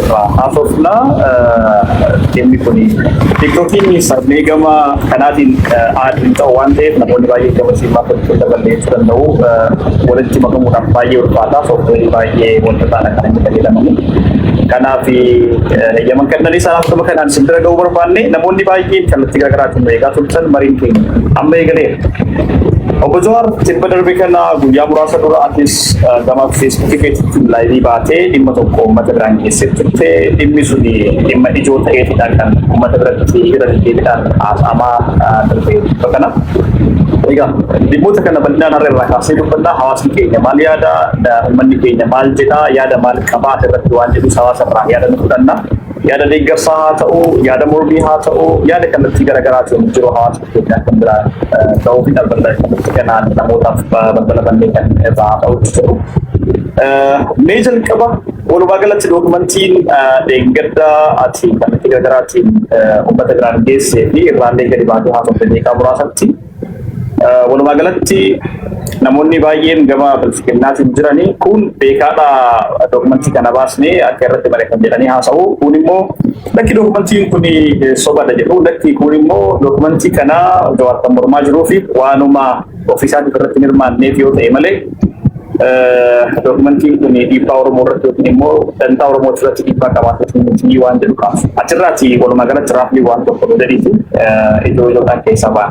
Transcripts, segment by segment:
irraa haasofna. Dhimmi kun tiktokiin sarbee gama kanaatiin aadni ta'u waan ta'eef namoonni baay'ee gama siimaa gochuu dabalee danda'u walitti makamuudhaaf baay'ee ulfaataa sooftuweerii baay'ee wanta ta'an akka inni fayyadamani. Kanaaf yaman kannanii sanaaf gama kanaan isin bira ga'uu barbaanne namoonni baay'een kallattii garaagaraatiin nu eegaa turtan mariin keenya amma eegaleera. Obbo Jawaar tibba darbe kana guyyaa muraasa dura atis gama feesbuukii keessatti laayivii baatee dhimma tokko uummata biraan geessee turte dhimmi sun dhimma ijoo ta'eetidha kan uummata biratti irra deddeebiidhaan haasa'amaa turte kana. Egaa dhimmoota kana bal'inaan har'a irraa kaasee dubbannaa hawaasni keenya maal yaada uummanni keenya maal jedha yaada maal qabaa irratti waan jedhu hawaasa irraa yaada nu fudhanna. Yaada deeggarsaa haa ta'u yaada mormii haa ta'u yaada kallattii garaagaraatiin jiru hawaasa Itoophiyaan kan biraa ta'uu fi dhaabbata kanatti kanaan namootaaf balbala bannee kan irraa ta'utti jiru. Mee jalqaba walumaa galatti dookumantiin dheengadda ati kallattii garaagaraatiin uummata biraan geessee fi irraallee gadi baatee haasofte beekaa muraasatti walumaa galatti namoonni baay'een gama bilchiginnaatiin jiranii kun beekaadha dookumantii kana baasnee akka irratti barreeffame jedhanii haasa'u kun immoo Lakki dookumantiin kun sobadha jedhu lakki kun immoo dookumantii kana Jawaar kan mormaa jiruu fi waanuma ofiisaatiif irratti hin hirmaanneef yoo ta'e malee dookumantiin kun dhiibbaa Oromoo irratti yookiin immoo dantaa Oromoo irratti dhiibbaa qabaatu miti waan jedhu qaba. Achirraati walumaa galatti raafni waan tokko nu gadiitu ijoo ijoodhaan keessaa ba'a.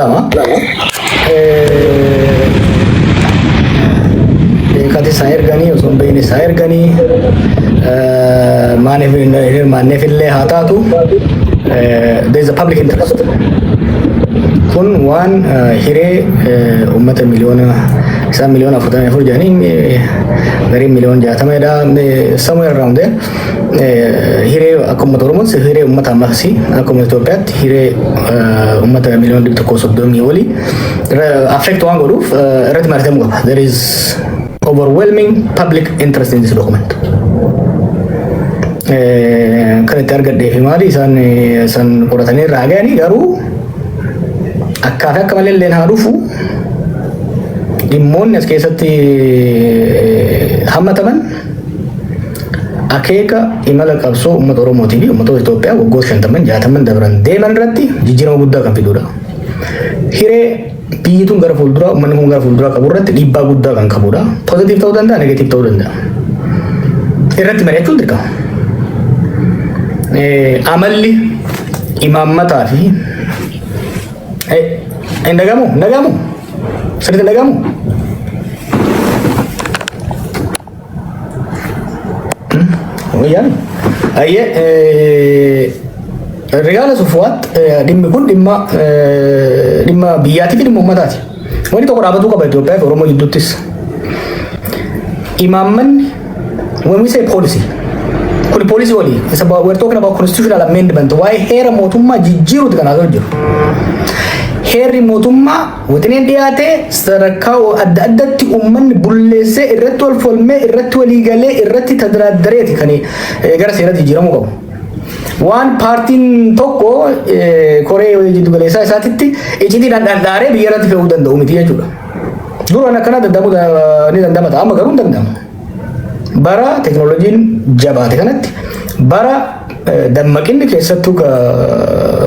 Lama. Beekati isaa erganii osoo hin beekne isaa erganii maaliif hin hirmaanneef illee haa taatu there is a public interest. Kun waan hiree uummata miliyoona isaan miliyoona afurtamii afur jedhanii gariin miliyoona jaatama jedha somewhere around there. hiree akka uummata Oromoos hiree uummata ammas akka uummata Itoophiyaatti hiree uummata miliyoona dhibba tokkoo soddomii olii affect waan godhuuf irratti mari'atamuu qaba. There is overwhelming public interest in this document. Kan itti argadhee fi maali isaan san qoratanii irraa ga'anii garuu akkaa fi akka malee illee haa dhufu dhimmoonni as keessatti hammataman Akeeka imala qabsoo uummata Oromootii fi uummattoota Itoophiyaa waggoota shantamman jaatamman dabran deeman irratti jijjiirama guddaa kan fidudha. Hiree biyyi tun gara fuulduraa uummanni kun gara fuulduraa qabu irratti dhiibbaa guddaa kan qabudha. Pozitiif ta'uu danda'a, negatiif ta'uu danda'a. Irratti mari'achuun dirqama. Amalli imaammataa fi hin dhagahamu, hin dhagahamu, sirriitti hin dhagahamu. Wayyaani. Ayyee eh, Rigaala Sufuwaat eh, dhimmi kun dhimma eh, dhimma biyyaatii fi dhimma uummataati. Wanti tokko dhaabatuu qaba Itoophiyaa fi Oromoo jidduuttis. Imaammanni when we say policy kun poolisii olii isa ba- we're talking about constitutional amendment waa'ee heera mootummaa jijjiiruuti kan haasa'u jiru. Heerri mootummaa Wixineen dhiyaate sadarkaa adda addatti uummanni bulleessee irratti wal falmee irratti walii galee irratti tadiraaddareeti kan gara seeratti jijjiiramuu qabu. Waan paartiin tokko koree jiddu galeessaa isaatitti icitiidhaan dhandhaaree biyya irratti fe'uu danda'u miti jechuudha. Duraan akkana danda'amuu ni danda'ama ta'a amma garuu hin danda'amu. Bara teknooloojiin jabaate kanatti bara dammaqinni keessattuu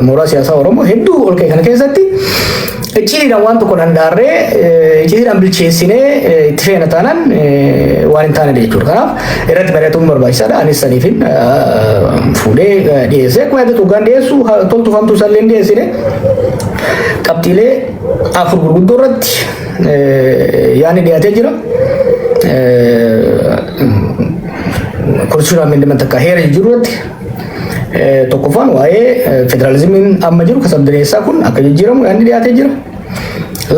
mooraa siyaasaa Oromoo hedduu ol ka'e kana keessatti icciitiidhaan waan tokko dhandaarree icciitiidhaan bilcheessinee itti feena taanaan waan hin taane jechuudha. Kanaaf irratti mari'atuun barbaachisaadha. Anis saniifin fuudhee dhiyeesse. Akkuma yaadatu hoggaan dhiyeessu toltuu famtuu salleen dhiyeessine qabxiilee afur gurguddoo irratti yaani dhiyaatee jira. Konstitutional amendment akka heera jijjiiruu irratti tokkoffaan waa'ee federaalizimiin amma jiru kan sabdaneessaa kun akka jijjiiramu yaadni dhiyaatee jira.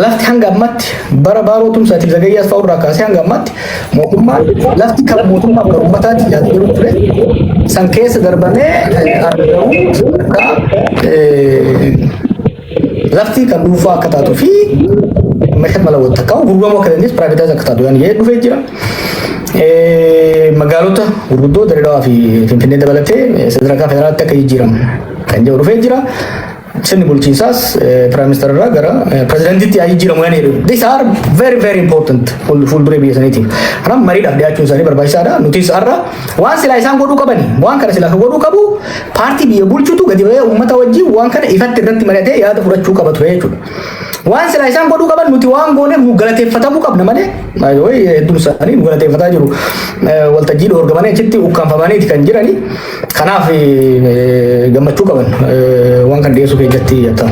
Lafti hanga ammatti bara baaroo tumsaatiif zagayyaas fa'aa irraa kaasee hanga ammatti mootummaan lafti kan mootummaa kan uummataatti yaadu jiru ture san keessa darbamee argamu akka Lafti kan dhuunfaa akka taatu fi meeshaan mala wanta kaa'u gurguramuu akka dandeessu piraayivetaayis akka taatu yaani jedhee dhufee jira. Magaalota gurguddoo Dirreedawaa fi Finfinnee dabalatee sadarkaa federaalaatti akka jijjiiramu kan jedhu dhufee jira. Sirni bulchiinsaas piraayimisteera irraa gara pirezidantiitti yaa jijjiiramu yaani jedhu. These are very very important fuulduree biyya saniitiif. Kanaaf mariidhaaf dhiyaachuun isaanii barbaachisaadha. Nutis har'a waan silaa isaan godhuu qabani waan kana silaa godhuu qabu Paartii biyya bulchutu gadi ba'ee uummata wajjin waan kana ifatti irratti maratee yaada fudhachuu qaba ture jechuudha. Waan silaa isaan godhuu qaban nuti waan gooneef nu galateeffatamuu qabna malee baay'ee hedduun isaanii nu galateeffataa jiru. Eh, Waltajjii dhoorgamanii achitti ukkaanfamaniiti kan jirani. Kanaaf eh, gammachuu qaban eh, waan kan dhiyeessuu keessatti jettama.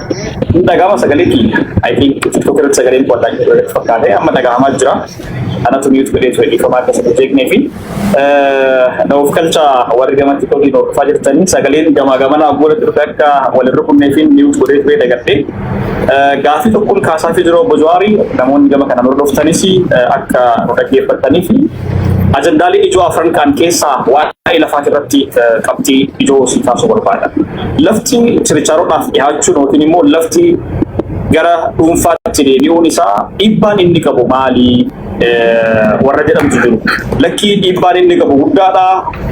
Kun dhaga'ama sagalee kiyya. I think TikTok irratti sagaleen qo'ataa hin jiru irratti fakkaate amma dhaga'amaa jira. Anatu miyuut godhee ture dhiifama akka isin jeeqnee fi na of kalcha warri gama TikTok hin hordofaa jirtanii sagaleen gamaa gamanaa gola turte akka walin rukunnee fi miyuut godhee ture dagadhee. Gaafii tokkoon kaasaa fi jiru obbo Jawaari namoonni gama kanaan hordoftanis akka nu dhaggeeffattanii fi ajandaalee ijoo afran kaan keessaa waa'ee lafaa irratti qabxii ijoo si kaasuu barbaada. Lafti chirichaaroodhaaf dhihaachuun yookiin immoo lafti gara dhuunfaatti deebi'uun isaa dhiibbaan inni qabu maali warra jedhamtu jiru. Lakkii dhiibbaan inni qabu guddaadha.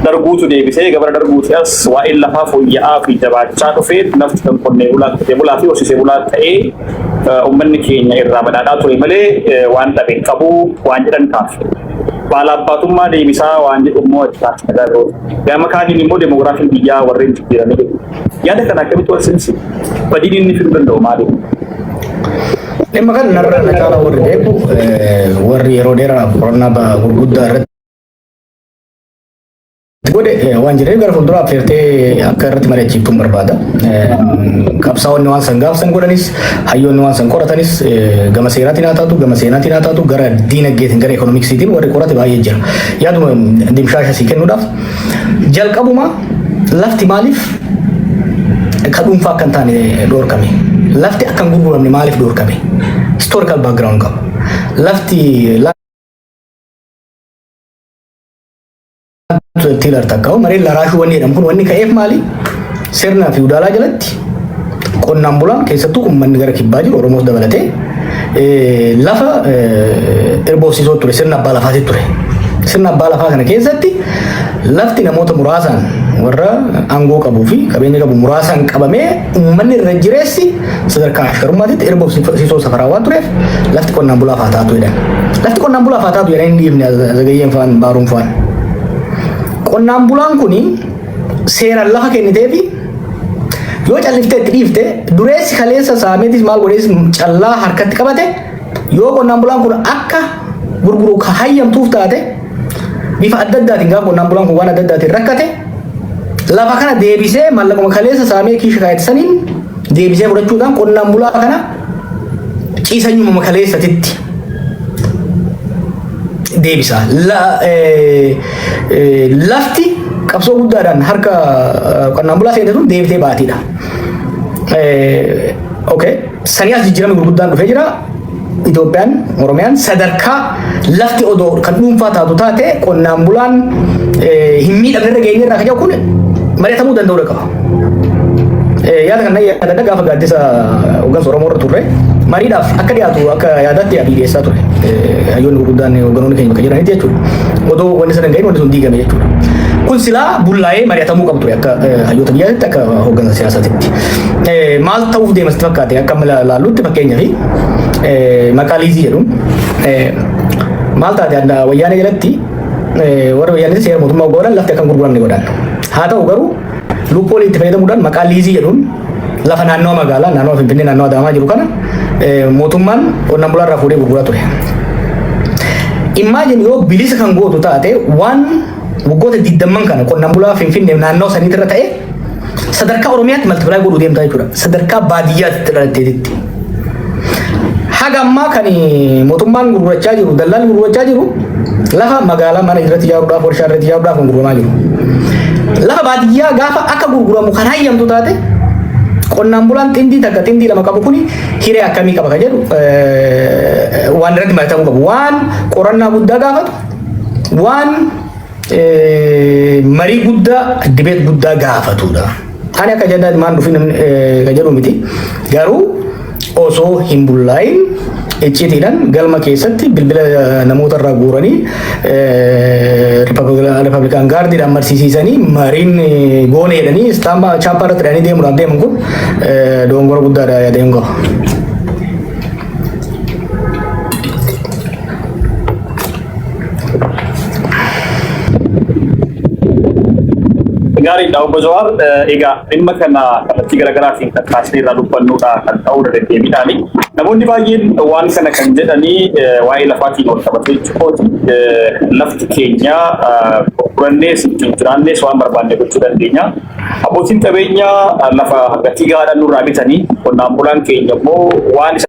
Darguutu deebisee gabara darguuti as waa'een lafaa fooyya'aa fi jabaachaa dhufee lafti kan qonnee bulaa qotee bulaa fi horsiisee bulaa ta'ee uummanni keenya irraa badhaadhaa ture malee waan dhabe qabu waan jedhan kaafne. Baala abbaatummaa deebisaa waan jedhu immoo itti taasisa. Gama kaaniin immoo demoogiraafiin biyyaa warreen jijjiirame jedhu. Yaada kana akkamitti wal simsiisu? Badiin inni fiduu danda'u maali? Dhimma kana narra na caalaa warri beeku warri yeroo dheeraa qorannaa gurguddaa irratti godhe waan jireenya gara fuulduraaf feertee akka irratti mari'achiiftuun barbaada. Qabsaa'onni waan san gaafsan godhanis hayyoonni waan san qoratanis gama seeraatiin haa taatu gama seenaatiin haa taatu gara diinagdeetiin gara ekonomiksiitiin warri qorate baay'ee jira. Yaaduma dimshaasha sii kennuudhaaf jalqabuma lafti maaliif ka dhuunfaa akka hin taane dhoorkame? Lafti akka hin gurguramne maaliif dhoorkame? Historical background qaba. Lafti tiilar takka mareen laraashuu wanni jedhamu kun wanni ka'eef maali? Sirnaa fi udaalaa jalatti qonnaan bulaan keessattuu uummanni gara kibbaa jiru Oromoos dabalatee eh, lafa eh, irboofsiisoo ture sirna abbaa lafaati ture. Sirna abbaa lafaa kana keessatti lafti namoota muraasaan warra aangoo qabuu fi qabeenya qabu muraasaan qabamee uummanni irra jireessi sadarkaa ashkarummaatitti irboofsiisoo safaraa waan tureef lafti qonnaan bulaaf haa taatu jedhan. Lafti qonnaan bulaaf haa taatu jedhan hin dhiifne zagayyeen faan baaruun faan. Qonnaan bulaan kuni seeraan lafa kennitee fi yoo calliftee itti dhiifte dureessi kaleessa saameetis maal godhees callaa harkatti qabate yoo qonnaan bulaan kun akka gurguru ka hayyamtuuf taate bifa adda addaatiin gaafa qonnaan bulaan kun waan adda addaatiin rakkate lafa kana deebisee mallaquma kaleessa saamee kiisha kaayate saniin deebisee fudhachuudhaan qonnaan bulaa kana ciisanyuma kaleessatitti deebisa. La- eh, eh, Lafti qabsoo guddaadhaan harka eh, qonnaan bulaa seente sun deebitee baatiidha. Eh, Okay. Sanii as jijjiirama gurguddaan dhufee jira. Itoophiyaan, Oromiyaan sadarkaa lafti odoo kan dhuunfaa taatu taate qonnaan bulaan eh, hin miidhamne irra geenye irraa kan jedhu kun mari'atamuu danda'uu qaba. yaada kana yaadadha gaafa gaaddisa hoggansa Oromoo irra turre mariidhaaf akka dhiyaatu akka yaadaatti yaadii dhiyeessaa ture. Hayyoonni gurguddaan hoggantoonni keenya bakka jiranitti jechuudha. Odoo wanni sana hin gahin wanni sun diigame jechuudha. Kun silaa bullaa'ee mari'atamuu qabu ture akka hayyoota biyyaatti akka hoggansa siyaasaatitti. Maal ta'uuf deemasti fakkaate akka amma laallutti fakkeenyaaf maqaa liizii jedhuun maal taate wayyaanee jalatti Warri wayyaanee seera mootummaa ogoolan lafti akka hin gurguramne godhan. Haa ta'u garuu lubbuu waliin itti fayyadamuudhaan maqaa liizii jedhuun lafa naannoo magaalaa naannoo Finfinnee naannoo Adaamaa jiru kana mootummaan qonnaan bulaa irraa fuudhee gurguraa ture. Immaajin yoo bilisa kan gootu taate waan waggoota digdamman kana qonnaan bulaa Finfinnee naannoo saniitti irra ta'e sadarkaa Oromiyaatti maltipilaay godhuu deemtaa jechuudha. Sadarkaa baadiyyaatti irratti. Haga ammaa kan mootummaan gurgurachaa jiru, dallaan gurgurachaa jiru lafa magaalaa mana irratti ijaaruudhaaf, warshaa irratti ijaaruudhaaf kan gurguramaa jiru. Lafa baadiyyaa gaafa akka gurguramu kan hayyamtu taate qonnaan bulaan xindii takka xindii lama qabu kuni hiree akkamii qaba kan jedhu waan irratti mari'atamuu qabu. Waan qorannaa guddaa gaafatu, waan marii guddaa dibeet guddaa gaafatudha. Ani akka jedhaa ilmaan dhufi namni ka jedhu miti. Garuu osoo hin bullaayin icciitiidhaan galma keessatti bilbila namoota irraa guuranii ripablikaan gaardiidhaan marsiisiisanii mariin goone jedhanii istaambaa chaappaa irratti hidhanii deemuudhaaf deeman kun doongora guddaadha yaadeen qaba. Gaariidha obbo Jawaar. Egaa dhimma kana kallattii garaagaraatiin kan kaasnee irraa dubbannudha kan ta'uu deddeebiidhaani. Namoonni baay'een waan kana kan jedhanii waa'ee lafaatiin wal qabatee jechuudha. Lafti keenya gurgurannees ittiin jiraannees waan barbaanne gochuu dandeenya. Abbootiin qabeenyaa lafa gatii gahaadhaan nurraa bitanii qonnaan bulaan keenya immoo waan isa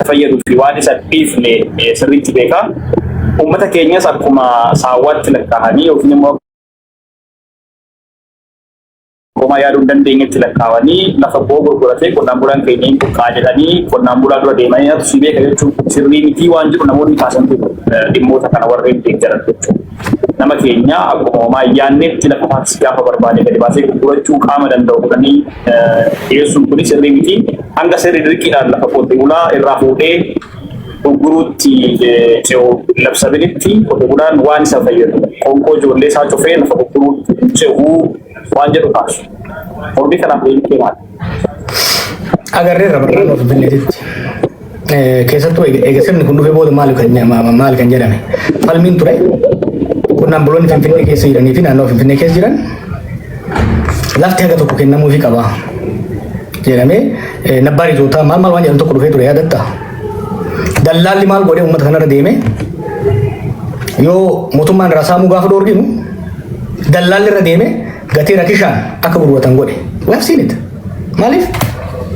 fayyaduu fi waan isa dhiifne eh, sirriitti beeka. Uummata keenyas akkuma saawwaatti lakkaa'anii yookiin immoo akkuma yaaduu hin dandeenyetti lakkaa'anii lafa boo gurguratee qonnaan bulaan keenya hin buqqaa jedhanii qonnaan bulaa dura deemanii natu si beeka jechuun sirrii mitii waan jiru namoonni kaasantu eh, dhimmoota kana warreen deeggaran jechuudha. nama keenya akkuma homaa ayyaanneetti lafa faatis gaafa barbaade gadi baasee gurgurachuu qaama danda'u godhanii dhiyeessuun kunis sirrii miti. Hanga sirri dirqiidhaan lafa qotee bulaa irraa fuudhee gurguruutti ce'u labsabilitti qotee bulaan waan isa fayyadu qoonqoo ijoollee isaa cufee lafa gurguruutti ce'uu waan jedhu kaasu. Mormii kanaaf deebii kee maali? Agarreerra barnaan of binneetitti. Keessattuu eega sirni kun dhufee booda maal kan jedhame falmiin ture qonnaan buloonni Finfinnee keessa jiranii fi naannoo Finfinnee keessa jiran lafti haga tokko kennamuufii qaba jedhamee nabbaan ijootaa maal maal waan jedhan tokko dhufee ture yaadatta. Dallaalli maal godhee uummata kanarra deeme yoo mootummaan irraa saamuu gaafa dhoorginu dallaalli irra deeme Gatii rakishaan akka gurguratan godhe. We have seen it. Maaliif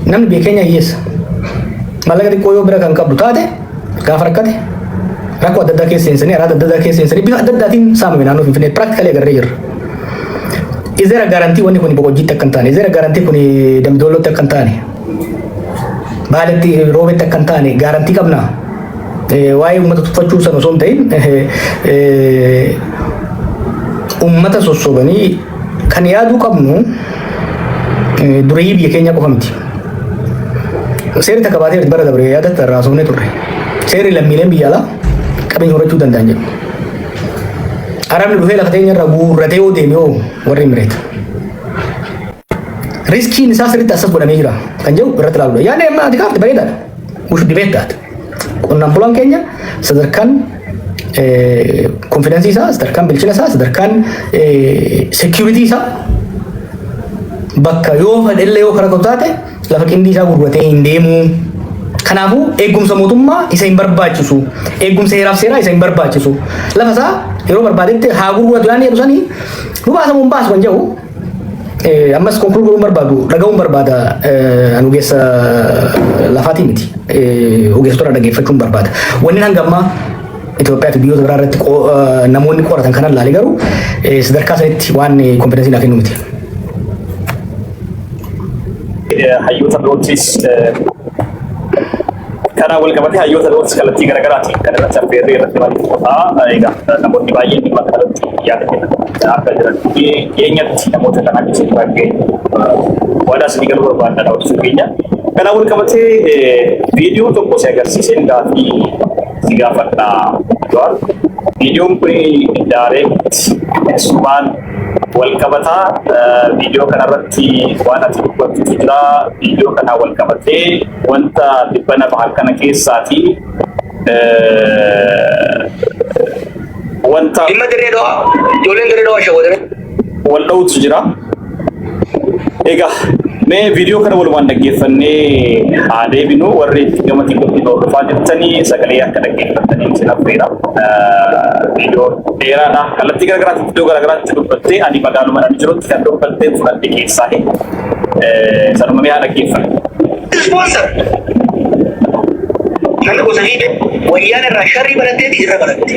namni biyya keenya hiyyeessa. Maallaqa xiqqoo yoo bira kan qabdu taate gaafa rakkate rakkoo adda addaa keessa seensanii araada adda addaa keessa seensanii bifa adda addaatiin saamame naannoo Finfinnee practically agarree jirra. Is there a guarantee wanni kun boqojjiitti akka hin taane? Is there a guarantee kun damdoolootti akka hin taane? Baaletti roobetti akka hin taane gaarantii qabnaa? Waa'ee uummata tuffachuu san osoo hin ta'in uummata sossobanii kan yaaduu qabnu dureeyyii biyya keenyaa qofa miti. Seerri takka baatee bara dabre yaadatta irraa haasofnee turre. Seerri lammiileen biyya alaa qabeenya horachuu danda'an jedhu. Arabni dhufee lafa teenya irraa guurratee yoo deeme hoo warri mireeta. Riskiin isaa sirriitti assas godhamee jira kan jedhu irratti ilaaludha. Yaadni amma ati kaafte bareedaadha. Mushu dibeet taate. Qonnaan bulaan keenya sadarkaan konfidensii isaa, sadarkaan bilchina isaa, sadarkaan seekiyuritii isaa bakka yoo fedhellee yoo karaa qabu taate lafa qindii isaa gurguratee hin deemu. Kanaafuu eegumsa mootummaa isa hin barbaachisu. Eegumsa heeraaf seeraa isa hin barbaachisu. Lafa isaa yeroo barbaadetti haa gurguratu yaadni jedhu sanii nu baasamu hin baasu kan jedhu Eh, ammas konkulu godhuun barbaadu dhaga'uun barbaada eh, an ogeessa eh, lafaatii miti Eh, ogeessota dhaggeeffachuun barbaada wanni hanga ammaa Itoophiyaa fi biyyoota biraa irratti qo- eh, namoonni qoratan kanan laale garuu eh, sadarkaa sanitti waan kompetensiin haa kennu miti. hayyoota birootis eh, Kanaan walqabatee hayyoota birootis kallattii garaagaraatiin kan irratti affeerree irratti mari'atu qofaa egaa namoonni baay'een dhimma kanarratti yaada kennan akka jiran dhiyeenyatti namoota kan akka isin irraa geenyu waadaa isinii galuu barbaadna daawwachuu keenya. Kanaan walqabatee viidiyoo tokko si agarsiiseen gaafii si gaafadha Jawaar. Viidiyoon kun daareetti sumaan walqabataa viidiyoo kanarratti waan ati dubbattutu jira. Viidiyoo kanaa walqabatee wanta dhibbana bahan kana keessaati wanta Dhimma dirree dawaa ijoolleen dirree dawaa shawwadanii. wal dha'utu jira. Egaa mee viidiyoo kana walumaan dhaggeeffannee haa deebinu warri gama tiktokii nu hordofaa jirtanii sagalee akka dhaggeeffattanii isin affeera. Viidiyoo dheeraadha. Kallattii garaagaraatti iddoo garaagaraatti dubbattee ani magaaluma ani jirutti kan dubbatteen fudhadhe keessaa sanuma mee haa dhaggeeffannu. Sponsor. Namni gosa viidiyoo wayyaan irraa sharrii baratteeti irra baratte.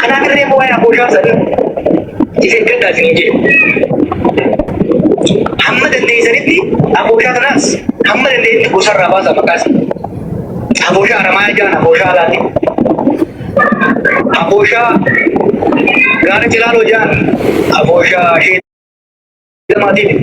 Kanaa garree koo waa'ee abooshaa sana isin gaddaa isin hin jedhu. Hamma dandeessanitti abooshaa kanaas hamma dandeessetti gosarraa baasa maqaas. Abooshaa aramaa jaan abooshaa alaati. Abooshaa gaara cilaaloo jaan abooshaa shee lamaatiif.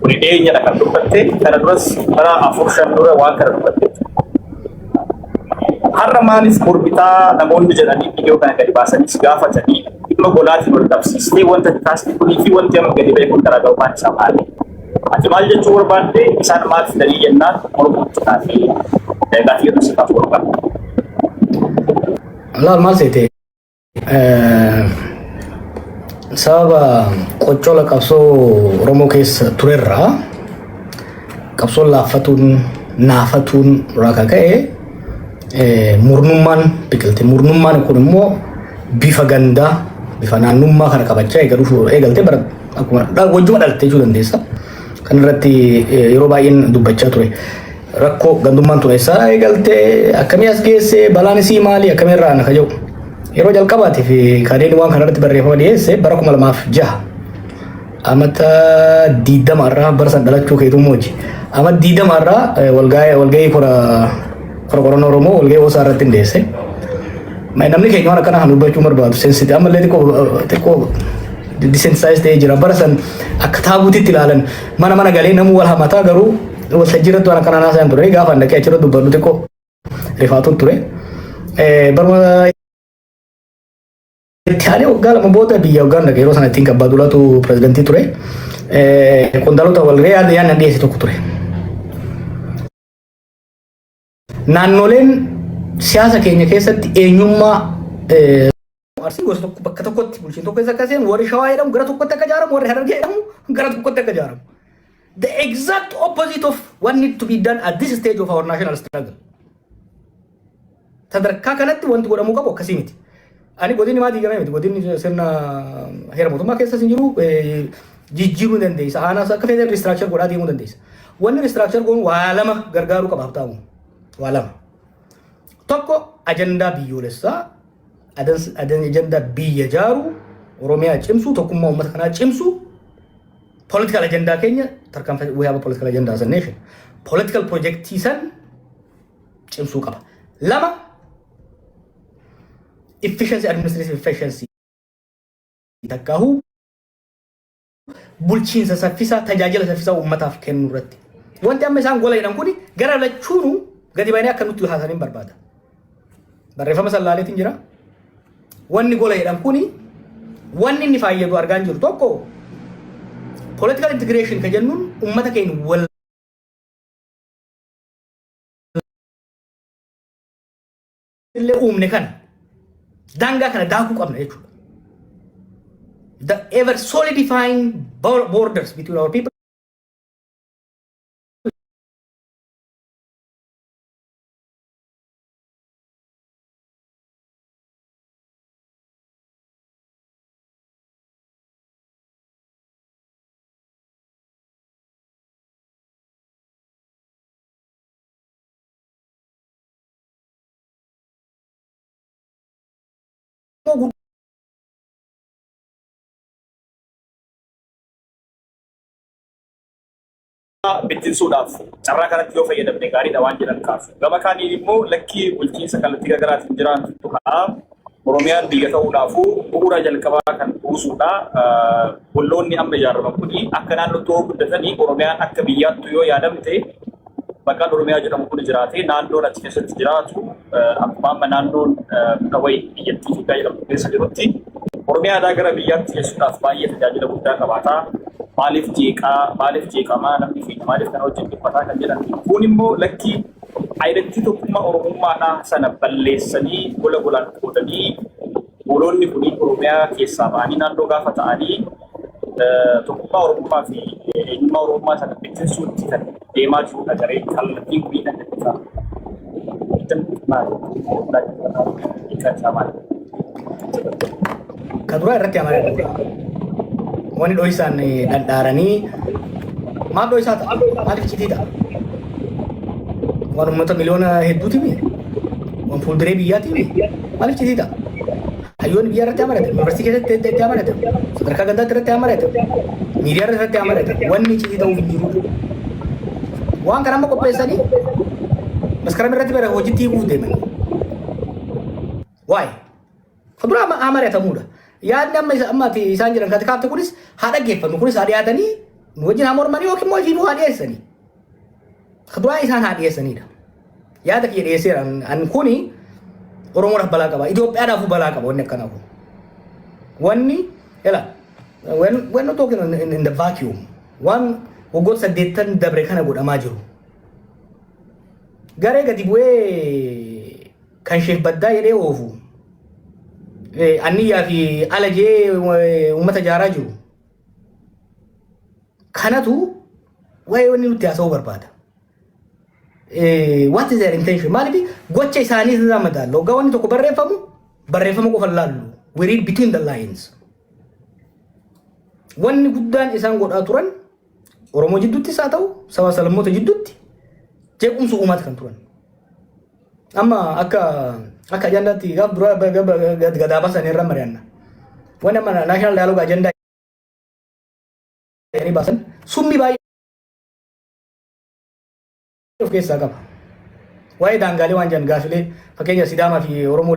Kuni dhiyeenyadha kan dubbatte kana duras bara afur shan dura waan kana dubbatte. Har'a maaliif mormitaa namoonni jedhanii viidiyoo kana gadi baasanii si gaafatanii dhimma golaatiin wal qabsiistee wanta taasise kunii fi wanti amma gadi ba'e kun garaagarummaan isaa maali? Ati maal jechuu barbaadde isaan maal fidanii jennaan mormuutti taatee gaafii irra si kaafuu barbaadde. Laal maal seetee? Sababa qoccola qabsoo Oromoo keessa turerraa qabsoon laaffatuun naafatuun irraa kan ka'e eh, murnummaan biqilte. Murnummaan kun immoo bifa gandaa bifa naannummaa kana qabachaa eega dhufuu eegalte bara akkuma dha- wajjuma dhalte jechuu dandeessa. Kan irratti eh, yeroo baay'een dubbachaa ture. Rakkoo gandummaan tun eessaa eegaltee akkamii as geessee balaan isii maali akkamii irraa ana kaja'u. Yeroo jalqabaatiif kadeen waan kanarratti barreeffama dhiyeesse bara kuma lamaaf jaha. Amata diidama irraa bara san dhalachuu keetuu mooji. Amata diidama irraa walgahii kora kora qorannoo Oromoo walgahii hoosaa irratti dhiyeesse. Namni keenya waan akkana kan dubbachuu barbaadu sensiti ammallee xiqqoo xiqqoo disensitaayiz ta'ee jira. Bara san akka taabuutitti ilaalan mana mana galee namuu wal hamataa garuu Waltajjiirratti waan akkanaa naasaan ture gaafa dhaqee achirra dubbadhu xiqqoo rifaatuun ture. Baruma itti aanee waggaa lama booda biyya waggaan dhaqe yeroo sana ittiin qabbaa dulatu pirezidantii ture. Qondaalota wal re'ee yaadni dhiyeesse tokko ture. Naannoleen siyaasa keenya keessatti eenyummaa eh, Arsii gosa tokko bakka tokkotti bulchiin tokko keessa akka seenu warri shawaa jedhamu gara tokkotti akka ijaaramu warri harargee jedhamu gara tokkotti akka ijaaramu. The exact opposite of what need to be done at this stage of our national struggle. Sadarkaa kanatti wanti godhamuu qabu akkasii miti. Ani godinni maa diigamee miti godinni sirna heera mootummaa keessas hin jiru jijjiiruu ni dandeessa aanaas akka feetan riistiraakchar godhaa deemuu dandeessa. Wanni riistiraakchar goonu waa lama gargaaruu qaba habtaamu waa lama. Tokko ajandaa biyyoolessaa ajandaa biyya jaaru Oromiyaa cimsuu tokkummaa uummata kanaa cimsuu political ajandaa keenya tarkaanfii we have a political agenda as a nation political projectii san cimsuu qaba. Lama efficiency administrative efficiency takkaahu bulchiinsa saffisaa tajaajila saffisaa uummataaf kennu irratti. Wanti amma isaan gola jedhan kuni gara lachuunu gadi baanee akka nutti haasaniin barbaada. Barreeffama sallaaleetiin jira. Wanni gola jedhan kuni wanni inni faayyadu argaa hin jiru tokko political integration ka jennuun uummata keenya wal illee uumne kana daangaa kana daakuu qabna jechuudha. The ever solidifying bor- borders between our people bittinsuudhaaf carraa kanatti yoo fayyadamne gaariidha waan jedhan kaasu. Gama kaaniin immoo lakkii bulchiinsa kallattii garaagaraatiin jiraantu ka'a. Oromiyaan biyya ta'uudhaafuu bu'uura jalqabaa kan buusuudha. Olloonni amma ijaaraman kun akka naannootti yoo guddatanii Oromiyaan akka biyyaattu yoo yaadamte maqaan Oromiyaa jedhamu kun jiraatee naannoon achi keessatti jiraatu akkuma amma naannoon dhawayii biyyattii Itoophiyaa jedhamtu keessa jirutti Oromiyaadhaa gara biyyaatti geessuudhaaf baay'ee tajaajila guddaa qabaata. Maaliif jeeqaa, maaliif jeeqamaa, namni keenya maaliif kana wajjin dhiphataa kan jedhan kun immoo lakkii Ayidattii tokkummaa Oromummaadhaa sana balleessanii gola golaan qoodanii gooloonni kun Oromiyaa keessaa ba'anii naannoo gaafa ta'anii tokkummaa Oromummaa fi eenyummaa Oromummaa sana bittinsuutti kan deemaa jirudha garee kallattiin kun kan jedhu isaa. Maali? Maali? Maali? Ka duraa irratti amanaa dha. Wani dhoysaan dhadhaaranii maaf dhoysaa ta'a? Maaliif iccitii ta'a? Waan uummata miliyoona hedduuti mi? Waan fuulduree biyyaati mi? Maaliif iccitii ta'a? Hayyoonni biyyaa irratti amanata. Yuunivarsiitii keessatti itti itti amanata. Sadarkaa gandaatti irratti amanata. Miidiyaa irratti amanata. Wanni iccitii ta'uuf hin jiru. Waan kana amma qopheessanii maskaram irratti bara hojiitti hiikuuf deeman. Waa'ee. Kan biraa amma haa mari'atamuudha. Yaadni amma isa- amma ati isaan jedhan kati kaafte kunis haa dhaggeeffannu kunis haa dhiyaatanii nu wajjin haa mormanii yookiin immoo ifiifuu haa dhiyeessanii. Kan biraa isaan haa dhiyeessaniidha. Yaada kiyya dhiyeesseera. An- An kuni Oromoodhaaf balaa qaba. Itoophiyaadhaafuu balaa qaba wanni akkanaa kun. Wanni ela when when not talking in, in, in the vacuum waan waggoota saddeettan dabre kana godhamaa jiru. Garee gadi bu'ee kan sheek baddaa jedhee oofu anniyyaa fi ala jee uummata jaaraa jiru kanatu waa'ee wanni nutti haasa'uu barbaada. What is their intention? Maaliif gocha isaanii irraa madaallu. Hoggaa wanni tokko barreeffamu barreeffama qofa laallu. We read between the lines. Wanni guddaan isaan godhaa turan Oromoo jidduuttis haa ta'u sabaa salammoota jidduutti jeequmsa uumaati kan turan. Amma akka akka ajandaatti gaaf duraa ba- ga- ba- ga- gadaa basan irra mari'anna. Wanni amma naashinaal daaloog ajandaa jedhanii baasan summii baay'ee of keessaa qaba. Waa'ee daangaalee waan jiran gaafilee fakkeenya Sidaamaa fi Oromoo